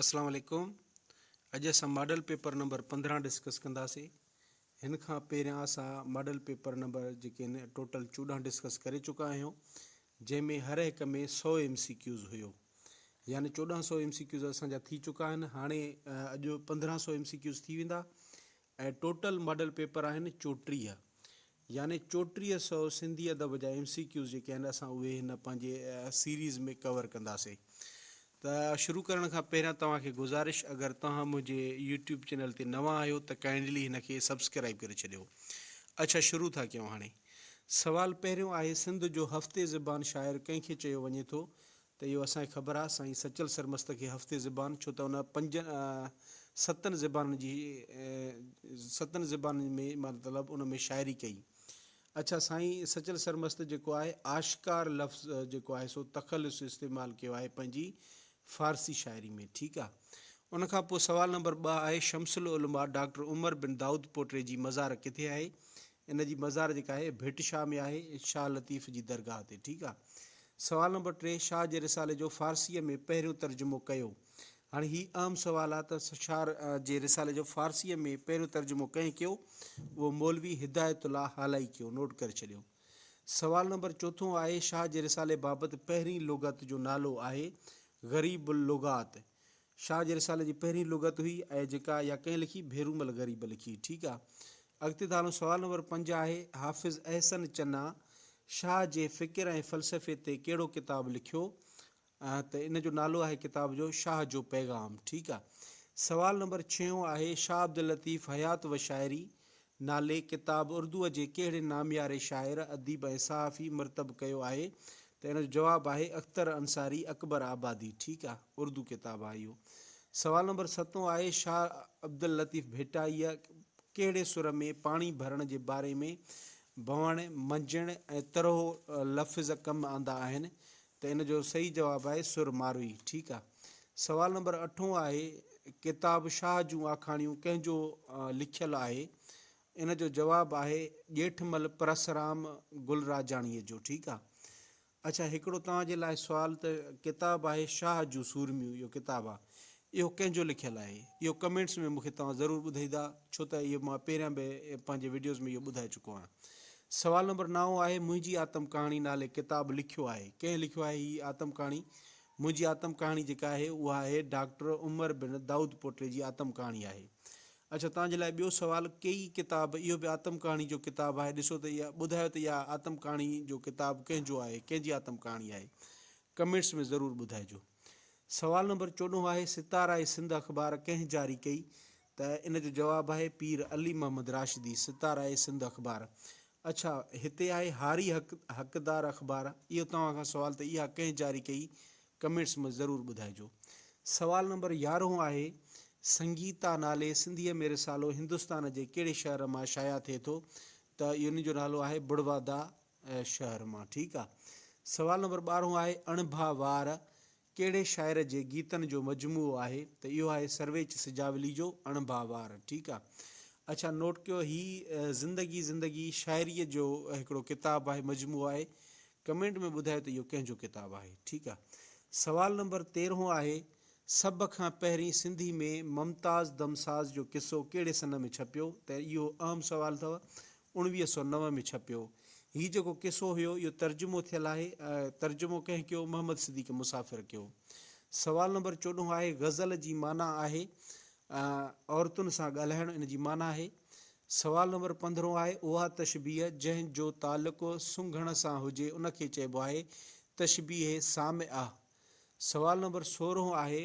اسلام عليڪم اڄ اسان ماڊل پيپر نمبر پندرهن ڊسڪس ڪنداسي هن کان پهريان اسان ماڊل پيپر نمبر جيڪي آهن ٽوٽل چوڏهن ڊسڪس ڪري چڪا آهيون جنهن ۾ هر هڪ ۾ سو ايم سي ڪيوز هيو يعني چوڏهن سو ايم سي ڪيوز اسان جا ٿي چڪا آهن هاڻي اڄ پندرهن سو ايم سي ڪيوز ٿي ويندا اهي ٽوٽل ماڊل پيپر آهن چوٽيهه يعني چوٽيهه سئو سنڌي ادب جا ايم سي ڪيوز جيڪي آهن اسان اهي هن پنهنجي سيريز ۾ ڪور ڪنداسين ته شروع ڪرڻ کان پهريان توهان کي گذارش اگر توهان منهنجي يوٽيوب چينل تي نوان آهيو ته ڪائنڊلي هن کي سبسڪرائب ڪري ڇڏيو اڇا شروع ٿا ڪيون هاڻي سوال پهريون آهي سنڌ جو هفتي زبان شاعر ڪنهن کي چيو وڃي ٿو ته اهو اسان کي خبر آ سائين سچل سرمست کي هفتي زبان ڇو ته ان پنجن ستن زبانن جي ستن زبانن ۾ مطلب ان ۾ شاعري ڪئي اڇا سائين سچل سرمست جيڪو آهي آشڪار لفظ جيڪو آهي سو تخلص استعمال ڪيو آهي پنهنجي فارسي شاعري ۾ ٺيڪ آ ان کان پوء سوال نمبر ٻه آهي شمس العلماء ڊاڪٽر عمر بن دائود پوٽري جي مزار ڪٿي آهي ان جي مزار جيڪا آهي ڀٽ شاهه ۾ آهي شاهه لطيف جي درگاهه تي ٺيڪ آ. سوال نمبر ٽي شاهه جي رسالي جو فارسيء ۾ پهريون ترجمو ڪيو. هاڻي هي اهم سوال آ ته شاهه جي رسالي جو فارسيء ۾ پهريون ترجمو ڪنهن ڪيو؟ اهو مولوي هدايت الله هالائي ڪيو نوٽ ڪري ڇڏيو. سوال نمبر چوٿون آهي شاهه جي رسالي بابت پهرين لغت جو نالو آهي غريب اللغات شاهه جي رسالي جي پهرين لغت هئي اهي جيڪا يا ڪنهن لکي ڀيرومل غريب لکي ٺيڪ آ اڳتي ٿا هلون سوال نمبر پنج آهي حافظ احسن چنا شاهه جي فڪر ۽ فلسفي تي ڪهڙو ڪتاب لکيو ته ان جو نالو آهي ڪتاب جو شاهه جو پيغام ٺيڪ آ سوال نمبر ڇهون آهي شاهه عبداللطيف حيات وشاعري نالي ڪتاب اردوء جي ڪهڙي نامياري شاعر، اديب ۽ صحافي مرتب ڪيو آهي؟ ته ان جو جواب آهي اختر انصاري اڪبر آبادي ٺيڪ آ اردو ڪتاب آ اهو. سوال نمبر ستون آهي شاهه عبداللطيف ڀٽائيء ڪهڙي سر ۾ پاڻي ڀرڻ جي باري ۾ ڀوڻ، منجهڻ ۽ ترهو لفظ ڪم آندا آهن؟ ته ان جو صحيح جواب آهي سر ماروئي. ٺيڪ آ. سوال نمبر اٺون آهي ڪتاب شاهه جون آکاڻيون ڪنهن جو لکيل آهي؟ ان جو جواب آهي ڄيٺمل پرسرام گلراجاڻيء جو. ٺيڪ آ. اڇا هڪڙو توهان جي لاء سوال ته ڪتاب آهي شاهه جون سورميون اهو ڪتاب آ. اهو ڪنهن جو لکيل آهي؟ اهو ڪمينٽس ۾ مونکي توهان ضرور ٻڌائيدا ڇو ته اهو مان پهريان به پنهنجي وڊيوز ۾ اهو ٻڌائي چڪو آهيان. سوال نمبر نائون آهي منهنجي آتم ڪهاڻي نالي ڪتاب لکيو آهي ڪنهن لکيو آهي هي آتم ڪهاڻي؟ منهنجي آتم ڪهاڻي جيڪا آهي اها آهي ڊاڪٽر عمر بن دائود پوٽي جي آتم ڪهاڻي آهي. اڇا توهان جي لاء ٻيو سوال ڪي هي ڪتاب اهو به آتم ڪهاڻي جو ڪتاب آهي ڏسو ته اها ٻڌايو ته اها آتم ڪهاڻي جو ڪتاب ڪنهن جو آهي ڪنهن جي آتم ڪهاڻي آهي ڪمينٽس ۾ ضرور ٻڌائجو. سوال نمبر چوڏهون آهي ستاره سنڌ اخبار ڪنهن جاري ڪئي؟ ته ان جو جواب آهي پير علي محمد راشدي ستاره سنڌ اخبار اڇا هتي آهي هاري حق حقدار اخبار اهو توهان کان سوال ته اها ڪنهن جاري ڪئي ڪمينٽس ۾ ضرور ٻڌائجو. سوال نمبر يارهون آهي سنگيتا نالي سنڌيء ۾ رسالو هندستان جي ڪهڙي شهر مان شايع ٿئي ٿو؟ ته ان جو نالو آهي بڙوادا شهر مان ٺيڪ آ. سوال نمبر ٻارهون آهي اڻڀا وار ڪهڙي شاعر جي گيتن جو مجموعو آهي ته اهو آهي سرويچ سجاولي جو اڻڀا وار ٺيڪ آ اڇا نوٽ ڪيو هي زندگي زندگي شاعري جو هڪڙو ڪتاب آهي مجموعو آهي ڪمينٽ ۾ ٻڌايو ته اهو ڪنهن جو ڪتاب آهي ٺيڪ آ سوال نمبر تيرهون آهي سڀ کان پهرين سنڌي ۾ ممتاز دم ساز جو قصو ڪهڙي سنه ۾ ڇپيو ته اهو اهم سوال اٿو اڻويهه سؤ نو ۾ ڇپيو. هي جيڪو قصو هيو اهو ترجمو ٿيل آهي. ترجمو ڪنهن ڪيو؟ محمد صديق مسافر ڪيو. سوال نمبر چوڏهون آهي غزل جي معنيٰ آهي عورتن سان ڳالهائڻ ان جي معنيٰ آهي. سوال نمبر پندرهون آهي اها تشبيهه جنهن جو تعلق سنگهڻ سان هجي ان کي چئبو آهي تشبيهه سامعه. سوال نمبر سورهون آهي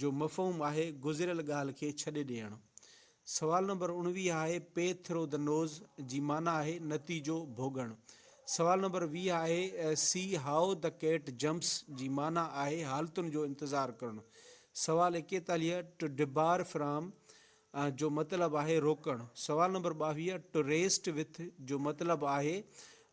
جو مفهوم آهي گذريل ڳالهه کي ڇڏي ڏيڻ. سوال نمبر اڻويهه آهي Pay through the nose جي معنيٰ آهي نتيجو ڀوڳڻ. سوال نمبر ويهه آهي See how the cat jumps جي معنيٰ آهي حالتن جو انتظار ڪرڻ. سوال ايڪيتاليهه To debar from جو مطلب آهي روڪڻ. سوال نمبر ٻاويهه To rest with جو مطلب آهي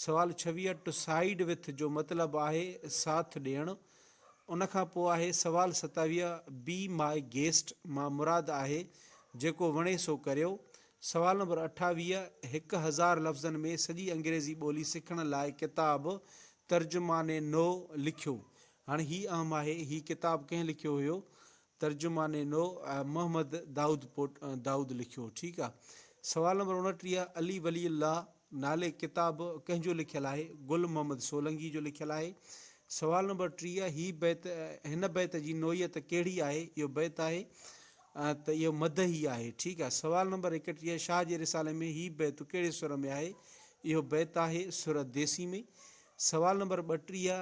سوال ڇويهه To side with جو مطلب آهي ساٿ ڏيڻ. ان کان پوء آهي سوال ستاويهه Be my guest مان مراد آهي جيڪو وڻي سو ڪريو. سوال نمبر اٺاويهه هڪ هزار لفظن ۾ سڄي انگريزي ٻولي سکڻ لاء ڪتاب ترجماني نو لکيو. هاڻي هي اهم آهي هي ڪتاب ڪنهن لکيو هيو؟ ترجمان نو، محمد دائود پوٽ دائود لکيو ٺيڪ آ. سوال نمبر اڻٽيهه علي ولي الله نالي ڪتاب ڪنهن جو لکيل آهي؟ گل محمد سولنگي جو لکيل آهي. سوال نمبر ٽيهه هي بيت هن بيت جي نوعيت ڪهڙي آهي؟ اهو بيت آهي ته اهو مدحي آهي ٺيڪ آ. سوال نمبر ايڪٽيهه شاهه جي رسالي ۾ هي بيت ڪهڙي سر ۾ آهي؟ اهو بيت آهي سر ديسي ۾. سوال نمبر ٻٽيهه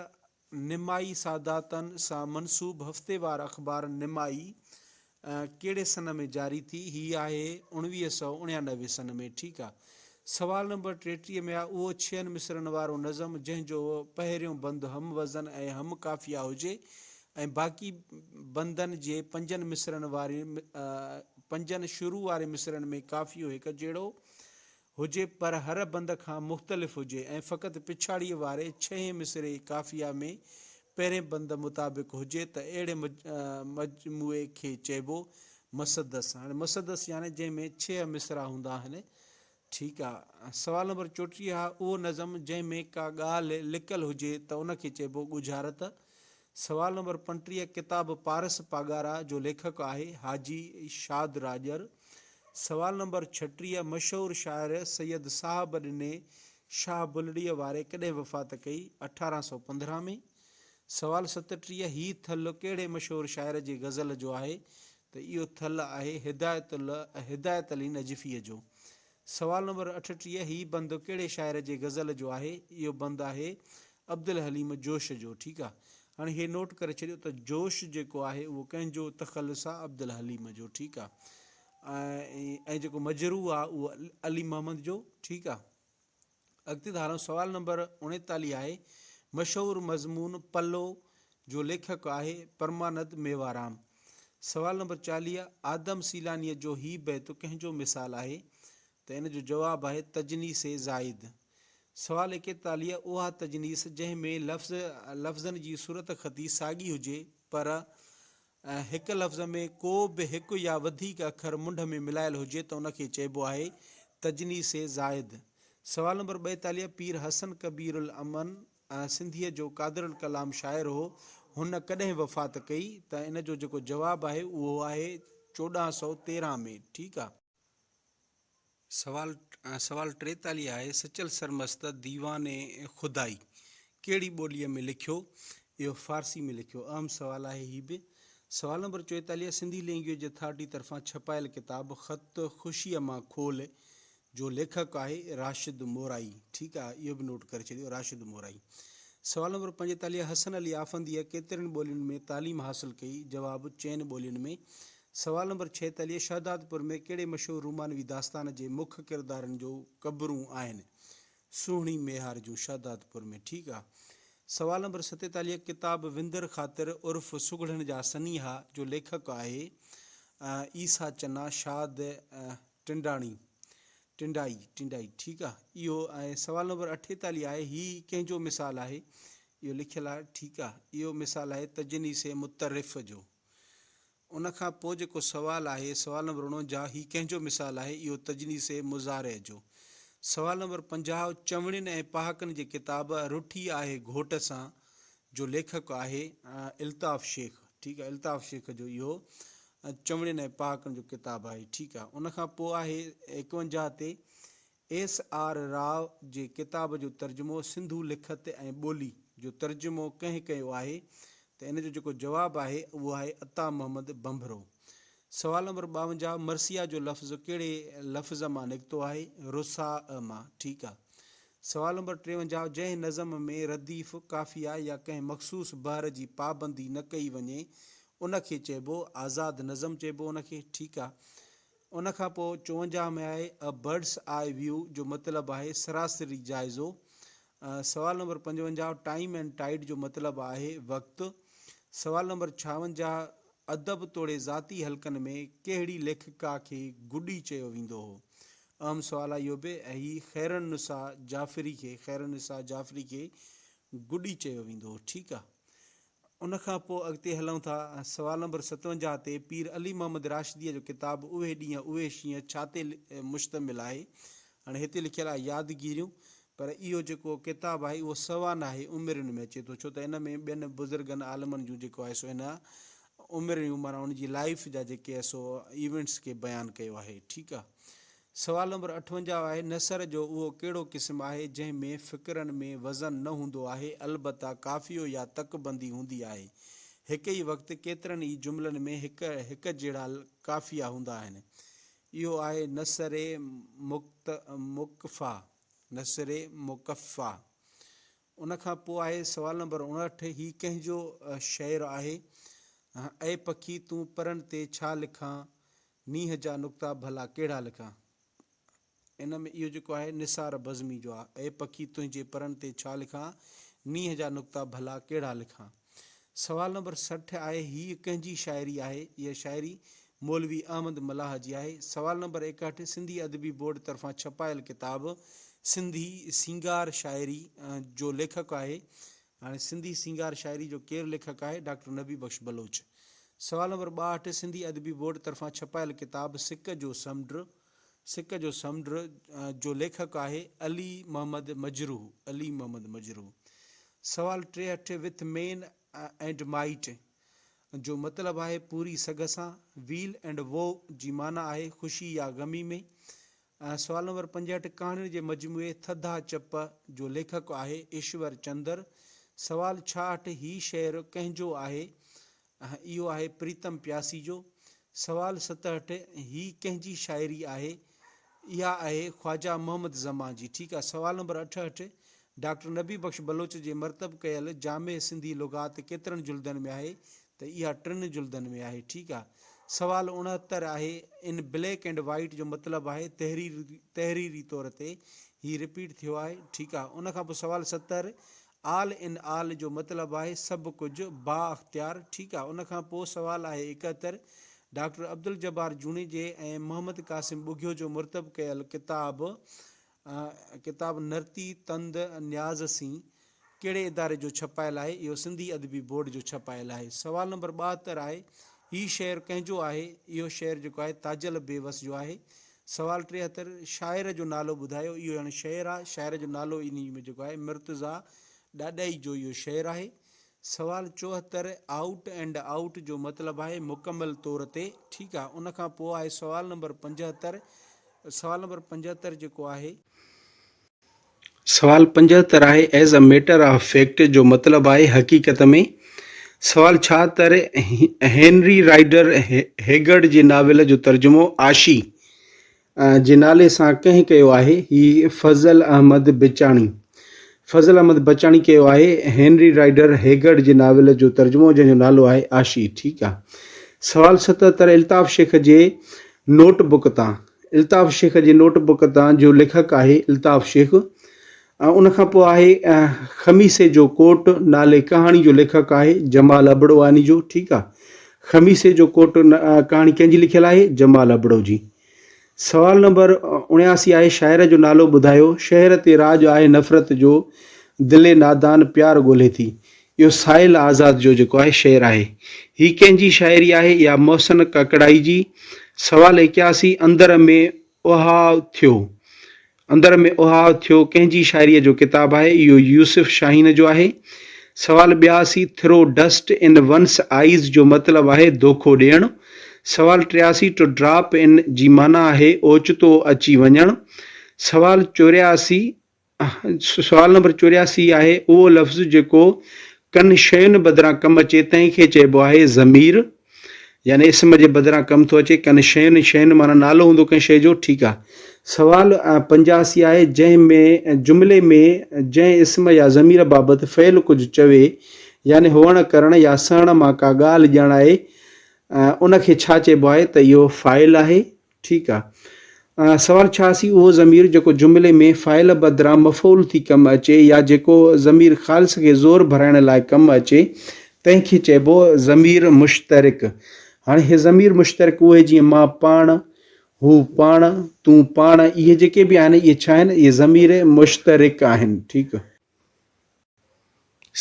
نمائي ساداتن سان منسوب هفتيوار اخبار نمائي ڪهڙي سن ۾ جاري ٿي؟ هي آهي اوڻويهه سؤ اڻيانوي سن ۾ ٺيڪ آ. سوال نمبر ٽيٽيهه ۾ آ اهو ڇهن مصرعن وارو نظم جنهن جو پهريون بند هم وزن ۽ هم قافيه هجي ۽ باقي بندن جي پنجن مصرعن واري پنجن شروع واري مصرعن ۾ قافيو هڪجهڙو هجي پر هر بند کان مختلف هجي ۽ فقط پڇاڙيء واري ڇهين مصرعي قافيه ۾ پهرين بند مطابق هجي ته اهڙي مجموعي کي چئبو مسدس. هاڻي مسدس يعني جنهن ۾ ڇهه مصرعا هوندا آهن. ٺيڪ آ. سوال نمبر چوٽيهه، اهو نظم جنهن ۾ ڪا ڳالهه لڪل هجي ته ان کي چئبو ڳجهارت. سوال نمبر پنٽيهه ڪتاب پارس پاڳارا جو ليکڪ آهي حاجي شاد راڄر. سوال نمبر ڇٽيهه مشهور شاعر سيد صاحب ڏني شاهه بلڙيء واري ڪڏهن وفات ڪئي؟ اٺارهن سؤ پندرهن ۾. سوال ستٽيهه هي ٿل ڪهڙي مشهور شاعر جي غزل جو آهي؟ ته اهو ٿل آهي هدايت الله هدايت علي نجفيء جو. سوال نمبر اٺٽيهه، هي بند ڪهڙي شاعر جي غزل جو آهي؟ اهو بند آهي عبدالحليم جوش جو ٺيڪ آ. هاڻي هي نوٽ ڪري ڇڏيو ته جوش جيڪو آهي اهو ڪنهن جو تخلص آ عبدالحليم جو ٺيڪ آ ۽ جيڪو مجروح آ اهو علي محمد جو ٺيڪ آ. اڳتي ڌاران سوال نمبر اوڻيتاليهه آهي. مشهور مضمون پلو جو ليکڪ آهي پرماند ميوارام. سوال نمبر چاليهه آدم سيلانيء جو هي بيت ڪنهن جو مثال آهي؟ ته ان جو جواب آهي تجنيس زائد. سوال ايڪيتاليهه اها تجنيس جنهن ۾ لفظ لفظن جي صورتخطي ساڳي هجي پر ۽ هڪ لفظ ۾ ڪو به هڪ يا وڌيڪ اکر منڍ ۾ ملايل هجي ته ان کي چئبو آهي تجنيس زائد. سوال نمبر ٻائيتاليهه پير حسن ڪبير الامن سنڌيء جو قادر الڪلام شاعر هو، هن ڪڏهن وفات ڪئي؟ ته ان جو جيڪو جواب آهي اهو آهي چوڏهن سؤ تيرهن ۾، ٺيڪ آ. سوال سوال ٽيتاليهه آهي سچل سرمست ديوان خدائي ڪهڙي ٻوليء ۾ لکيو؟ اهو فارسي ۾ لکيو. اهم سوال آهي هي به. سوال نمبر چويتاليهه سنڌي لينگويج اٿارٽي طرفان ڇپايل ڪتاب خط خوشيء مان کول جو ليکڪ آهي راشد مورائي ٺيڪ آهي اهو به نوٽ ڪري ڇڏيو راشد مورائي. سوال نمبر پنجيتاليهه حسن علي آفنديء ڪيترين ٻولين ۾ تعليم حاصل ڪئي؟ جواب چئن ٻولين ۾. سوال نمبر ڇيتاليهه، شهدادپور ۾ ڪهڙي مشهور رومانوي داستان جي مک ڪردارن جو قبرون آهن؟ سهڻي ميهار جون شهدادپور ۾ ٺيڪ آ. سوال نمبر ستيتاليهه، ڪتاب وندر خاطر عرف سگهڙن جا سنيها جو ليکڪ آهي عيسيٰ چنا شاد ٽنڊاڻي ٽنڊائي ٽنڊائي ٺيڪ آ اهو ۽ سوال نمبر اٺيتاليهه آهي هي ڪنهن جو مثال آهي اهو لکيل آ ٺيڪ آ اهو مثال آهي تجنيس مترف جو ان کان پوء جيڪو سوال آهي، سوال نمبر اڻونجاهه، هي ڪنهن جو مثال آهي؟ اهو تجنيس مضارع جو. سوال نمبر پنجاهه، چوڻين ۽ پهاڪن جي ڪتاب رٺي آهي گهوٽ سان جو ليکڪ آهي الطاف شيخ. ٺيڪ آهي. الطاف شيخ جو اهو چوڻين ۽ پهاڪن جو ڪتاب آهي. ٺيڪ آهي. ان کان پوء آهي ايڪونجاهه تي ايس آر راء جي ڪتاب جو ترجمو سنڌو لکت ۽ ٻولي جو ترجمو ڪنهن ڪيو آهي ته ان جو جيڪو جواب آهي اهو آهي عطا محمد ڀنڀرو. سوال نمبر ٻاونجاهه مرثيه جو لفظ ڪهڙي لفظ مان نڪتو آهي؟ رثاء مان ٺيڪ آ. سوال نمبر ٽيونجاهه جنهن نظم ۾ رديف، قافيه يا ڪنهن مخصوص بحر جي پابندي نه ڪئي وڃي ان کي چئبو آزاد نظم چئبو ان کي ٺيڪ آ. ان کان پوء چونجاهه ۾ آهي A Bird's Eye View جو مطلب آهي سراسري جائزو. سوال نمبر پنجونجاهه Time and Tide جو مطلب آهي وقت. سوال نمبر ڇاونجاهه ادب توڙي ذاتي حلقن ۾ ڪهڙي ليکڪا کي گڊي چيو ويندو هو؟ اهم سوال آهي اهو به ۽ هي خيرالنساء جعفري کي خيرالنساء جعفري کي گڊي چيو ويندو هو ٺيڪ آ. ان کان پوء اڳتي هلون ٿا ۽ سوال نمبر ستونجاهه تي پير علي محمد راشديء جو ڪتاب اهي ڏينهن اهي شينهن ڇا تي مشتمل آهي؟ هاڻي هتي لکيل آهي يادگيريون پر اهو جيڪو ڪتاب آهي اهو سوا ناهي عمرين ۾ اچي ٿو ڇو ته ان ۾ ٻين بزرگن عالمن جون جيڪو آهي سو ان عمريون معنيٰ ان جي لائيف جا جيڪي سو ايونٽس کي بيان ڪيو آهي ٺيڪ آهي سوال نمبر اٺونجاهه آهي، نثر جو اهو ڪهڙو قسم آهي، جنهن ۾ فقرن ۾ وزن نه هوندو آهي، البته قافيو يا تڪ بندي هوندي آهي. هڪ ئي وقت ڪيترن ئي جملن ۾ هڪ هڪ جهڙا قافيا هوندا آهن. اهو آهي نثر مڪفيٰ، Nasr Mukaffâ. ان کان پوء آهي سوال نمبر اڻهٺ، هي ڪنهن جو شعر آهي؟ اي پکي تون پرن تي ڇا لکان، مينهن جا نقطا ڀلا ڪهڙا لکان. ان ۾ اهو جيڪو آهي نثار بزمي جو آهي، اي پکي تنهنجي پرن تي ڇا لکان، مينهن جا نقطا ڀلا ڪهڙا لکان. سوال نمبر سٺ آهي هيء ڪنهن جي شاعري آهي؟ اها شاعري مولوي احمد ملاح جي آهي. سوال نمبر ايڪهٺ سنڌي ادبي بورڊ طرفان ڇپايل ڪتاب سنڌي سينگار شاعري جو ليکڪ آهي؟ هاڻي سنڌي سينگار شاعري جو ڪير ليکڪ آهي؟ ڊاڪٽر نبي بخش بلوچ. سوال نمبر ٻاهٺ سنڌي ادبي بورڊ طرفان ڇپايل ڪتاب سڪ جو سمنڊ. سڪ جو سمنڊ جو ليکڪ آهي علي محمد مجروح علي محمد مجروح سوال ٽيهٺ وٿ مين اينڊ مائيٽ جو مطلب آهي پوري سگهه سان ويل اينڊ وو جي معنيٰ آهي خوشي يا غمي ۾ سوال نمبر پنجهٺ ڪهاڻين جي مجموعي ٿڌا چپ جو ليکڪ آهي ايشور چندر سوال ڇاهٺ هي شعر ڪنهن جو آهي اها اهو آهي پريتم پياسي جو سوال ستهٺ هي ڪنهن جي شاعري آهي؟ اها آهي خواجه محمد زمان جي ٺيڪ آهي سوال نمبر اٺهٺ ڊاڪٽر نبي بخش بلوچ جي مرتب ڪيل جامع سنڌي لغات ڪيترن جلدن ۾ آهي ته اها ٽن جلدن ۾ آهي ٺيڪ آهي سوال اڻهتر آهي ان بليڪ اينڊ وائيٽ جو مطلب آهي تحريري طور تي هي رپيٽ ٿيو آهي ٺيڪ آهي ان کان پوء سوال ستر آل ان آل جو مطلب آهي سڀ ڪجهه، بااختيار، ٺيڪ آ. ان کان پوء سوال آهي اڪهتر، ڊاڪٽر عبدالجبار جوڻيجي ۽ محمد قاسم ٻگهيو جو مرتب ڪيل ڪتاب ڪتاب نرتي تند نياز سين ڪهڙي اداري جو ڇپايل آهي؟ اهو سنڌي ادبي بورڊ جو ڇپايل آهي. سوال نمبر ٻاهتر آهي، هي شعر ڪنهن جو آهي؟ اهو شعر جيڪو آهي تاجل بيوس جو آهي. سوال ٽيهتر، شاعر جو نالو ٻڌايو، اهو اڻ شعر آ، شاعر جو نالو انهي ۾ جيڪو آهي مرتضيٰ ڏاڏائي جو اهو شعر آهي. سوال چوهتر، آئوٽ اينڊ آئوٽ جو مطلب آهي مڪمل طور تي، ٺيڪ آ، ان کان پوء آهي سوال نمبر پنجهتر، سوال نمبر پنجهتر جيڪو آهي. سوال پنجهتر آهي As a matter of fact جو مطلب آهي حقيقت ۾. سوال ڇا تر هينري رائيڊر هيگرڊ جي ناول جو ترجمو عاشي جي نالي سان ڪنهن ڪيو آهي؟ هي فضل احمد بچاڻي فضل احمد بچاڻي ڪيو آهي هينري رائيڊر هيگرڊ جي ناول جو ترجمو جنهن جو نالو آهي عاشي ٺيڪ آهي سوال ستهتر الطاف شيخ جي نوٽ بڪ تان الطاف شيخ جي نوٽ بڪ تان جو ليکڪ آهي الطاف شيخ ۽ ان کان پوء آهي خميسي جو ڪوٽ نالي ڪهاڻي جو ليکڪ آهي جمال ابڙواني جو ٺيڪ آهي خميسي جو ڪوٽ ڪهاڻي ڪنهن جي لکيل آهي جمال ابڙو جي سوال نمبر اڻياسي آهي شاعر جو نالو ٻڌايو شهر تي راڄ آهي نفرت جو دل نادان پيار ڳولهي ٿي اهو سائل آزاد جو جيڪو آهي شعر آهي. هي ڪنهن جي شاعري آهي يا محسن ڪاڪڙائي جي؟ سوال اڪياسي اندر ۾ اهاء ٿيو. اندر ۾ اهاء ٿيو ڪنهن جي شاعريء جو ڪتاب آهي؟ اهو يوسف شاهين جو آهي. سوال ٻياسي throw dust in one's eyes جو مطلب آهي دوکو ڏيڻ. سوال ٽياسي ٽو ڊراپ ان جي معنيٰ آهي اوچتو اچي وڃڻ. سوال چورياسي سوال نمبر چورياسي آهي اهو لفظ جيڪو ڪن شين بدران ڪم اچي تنهن کي چئبو آهي ضمير يعني اسم جي بدران ڪم ٿو اچي ڪن شين شين معنيٰ نالو هوندو ڪنهن شيء جو ٺيڪ آهي سوال پنجاسي آهي جنهن ۾ جملي ۾ جنهن اسم يا ضمير بابت فعل ڪجهه چوي يعني هئڻ ڪرڻ يا سهڻ مان ڪا ڳالهه ڄاڻائي ان کي ڇا چئبو آهي ته اهو فاعل آهي ٺيڪ آ. سوال ڇا اسين اهو ضمير جيڪو جملي ۾ فاعل بدران مفعول ٿي ڪم اچي يا جيڪو ضمير خالص کي زور ڀرائڻ لاء ڪم اچي تنهن کي چئبو ضمير مشترڪ. هاڻي هي ضمير مشترڪ اهي جيئن مان پاڻ، هو پاڻ، تون پاڻ اهي جيڪي به آهن اهي ڇا آهن اهي ضمير مشترڪ آهن ٺيڪ.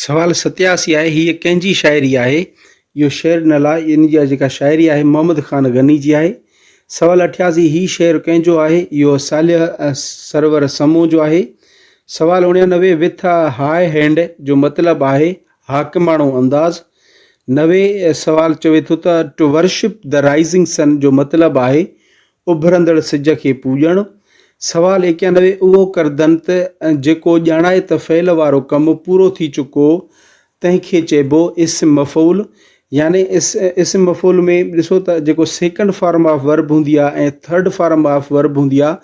سوال ستياسي آهي هيء ڪنهن جي شاعري آهي؟ اهو شعر نه لاء ان جي جيڪا شاعري آهي محمد خان غني جي آهي. سوال اٺياسي هي شعر ڪنهن جو آهي؟ اهو صالح سرور سمون جو آهي. سوال اڻيانوي وٿ آ هاء هينڊ جو مطلب آهي حاڪماڻو انداز. نوي سوال چوي ٿو ته to worship the rising sun جو مطلب آهي اڀرندڙ سج کي پوڄڻ. سوال ايڪيانوي اهو ڪردن ته جيڪو ڄاڻائي ته فعل وارو ڪم پورو ٿي چڪو تنهن کي چئبو اسم مفعول يعني اسم مفعول ۾ ڏسو ته جيڪو سيڪنڊ فارم آف ورب هوندي آهي ۽ ٿرڊ فارم آف ورب هوندي آهي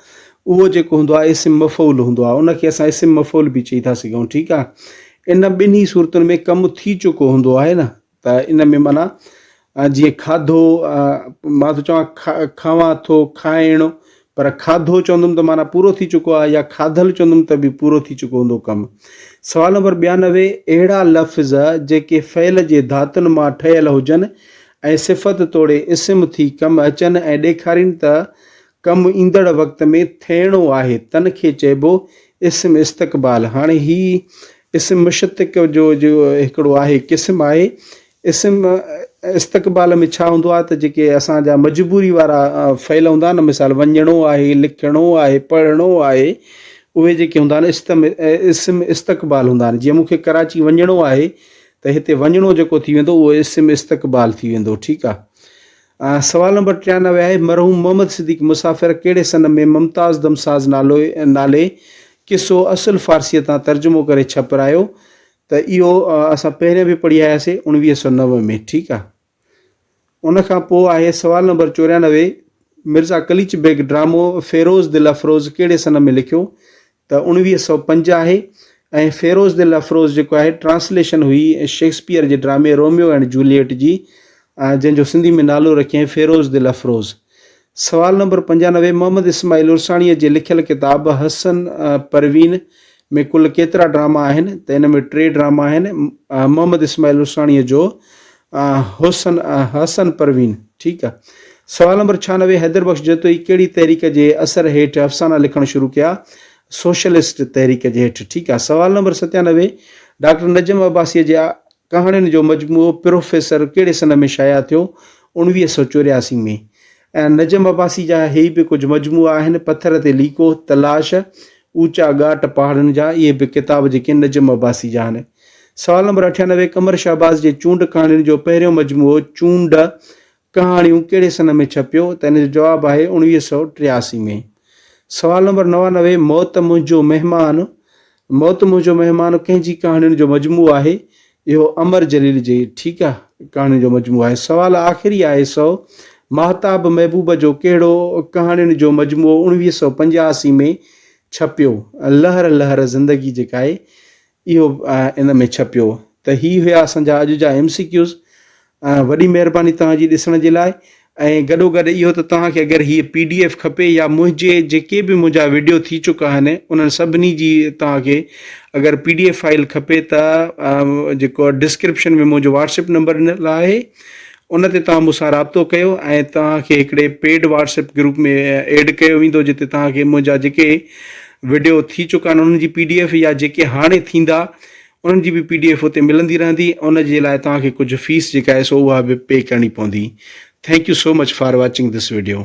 اهو جيڪو هوندو آهي اسم مفعول هوندو آهي ان کي اسان اسم مفعول به چئي ٿا سگهون ٺيڪ آهي ان ٻنهي صورتن ۾ ڪم ٿي چڪو هوندو آهي نه ته ان ۾ معنيٰ جيئن کاڌو مان ٿو چوان کاوان ٿو کائڻ پر کاڌو چوندم ته معنيٰ پورو ٿي چڪو آهي يا کاڌل چوندم ته به پورو ٿي چڪو هوندو ڪم سوال نمبر ٻيانوي اهڙا لفظ جيڪي فعل جي ڌاتن مان ٺهيل هجن ۽ صفت توڙي اسم ٿي ڪم اچن ۽ ڏيکارين ته ڪم ايندڙ وقت ۾ ٿيڻو آهي تن کي چئبو اسم استقبال هاڻي هي اسم مشتق جو جو هڪڙو آهي قسم آهي اسم استقبال ۾ ڇا هوندو آهي ته جيڪي اسان جا مجبوري وارا فعل هوندا آهن مثال وڃڻو آهي لکڻو آهي پڙهڻو آهي اهي جيڪي هوندا آهن استم اسم استقبال هوندا آهن جيئن مونکي ڪراچي وڃڻو آهي ته هتي وڃڻو جيڪو ٿي ويندو اهو اسم استقبال ٿي ويندو ٺيڪ آهي سوال نمبر ٽيانوي آهي، مرحوم محمد صديق مسافر ڪهڙي سن ۾ ممتاز دم ساز نالو نالي قصو اصل فارسيء تان ترجمو ڪري ڇپرايو ته اهو اسان پهرين به پڙهي آياسي اڻويهه سؤ نو ۾ ٺيڪ آ. ان کان پوء آهي سوال نمبر چوريانوي مرزا قليچ بيگ ڊرامو فيروز دل افروز ڪهڙي سن ۾ لکيو ته اوڻويهه سؤ پنج آهي ۽ فيروز دل افروز جيڪو آهي ٽرانسليشن هئي شيڪسپيئر جي ڊرامي روميو اينڊ جوليئٽ جي جنهن جو سنڌي ۾ نالو رکيائين فيروز دل افروز. سوال نمبر پنجانوي محمد اسماعيل عرساڻيء جي لکيل ڪتاب حسن پروين ۾ ڪل ڪيترا ڊراما آهن ته ان ۾ ٽي ڊراما آهن محمد اسماعيل عرساڻيء جو حسن حسن پروين ٺيڪ آ. سوال نمبر ڇهانوي حيدر بخش جتوئي ڪهڙي تحريڪ جي اثر هيٺ افسانا لکڻ شروع ڪيا؟ سوشلسٽ تحريڪ جي هيٺ ٺيڪ آ. سوال نمبر ستيانوي ڊاڪٽر نجم عباسيء جي ڪهاڻين جو مجموعو پروفيسر ڪهڙي سنه ۾ شايع ٿيو؟ اوڻويهه سؤ چورياسي ۾ ۽ نجم عباسي جا هي به ڪجهه مجموعا آهن، پٿر تي ليڪو، تلاش، اوچا ڳاٽ پهاڙن جا، اهي به ڪتاب جيڪي نجم عباسي جا آهن. سوال نمبر اٺيانوي، قمر شهباز جي چونڊ ڪهاڻين جو پهريون مجموعو چونڊ، ڪهاڻيون ڪهڙي سنه ۾ ڇپيو؟ ته ان جو جواب آهي اوڻويهه سؤ ٽياسي ۾. سوال نمبر نوانوي، موت منهنجو مهمان، موت منهنجو مهمان ڪنهن جي ڪهاڻين جو مجموعو آهي؟ اهو امر جليل جي ٺيڪ آ ڪهاڻين جو مجموعو آهي. سوال آخري آهي سو ماهتاب محبوب جو ڪهڙو ڪهاڻين جو مجموعو اڻويهه سؤ پنجاهاسي ۾ ڇپيو؟ لهر لهر زندگي جيڪا آهي اهو ان ۾ ڇپيو ته هي هيا اسان جا اڄ جا ايم سي ڪيوز وڏي مهرباني توهان جي ڏسڻ جي لاء ۽ گڏو گڏ اهو ته توهان کي اگر هيء پي ڊي ايف کپي يا منهنجي جيڪي به منهنجا ويڊيو ٿي چڪا آهن انهن سڀني جي توهان کي اگر پي ڊي ايف فائل کپي ته جيڪو ڊسڪرپشن ۾ منهنجو واٽسپ نمبر ڏنل آهي ان تي توهان مون سان رابطو ڪيو ۽ توهان کي هڪڙي پيڊ واٽسپ گروپ ۾ ايڊ ڪيو ويندو جتي توهان کي منهنجا جيڪي ويڊيو ٿي چڪا آهن انهن جي پي ڊي ايف يا جيڪي هاڻي ٿيندا انهن جي به پي ڊي ايف اتي ملندي رهندي ۽ ان جي لاء توهان کي ڪجهه فيس جيڪا آهي سو اها به پي ڪرڻي پوندي thank you so much for watching this video.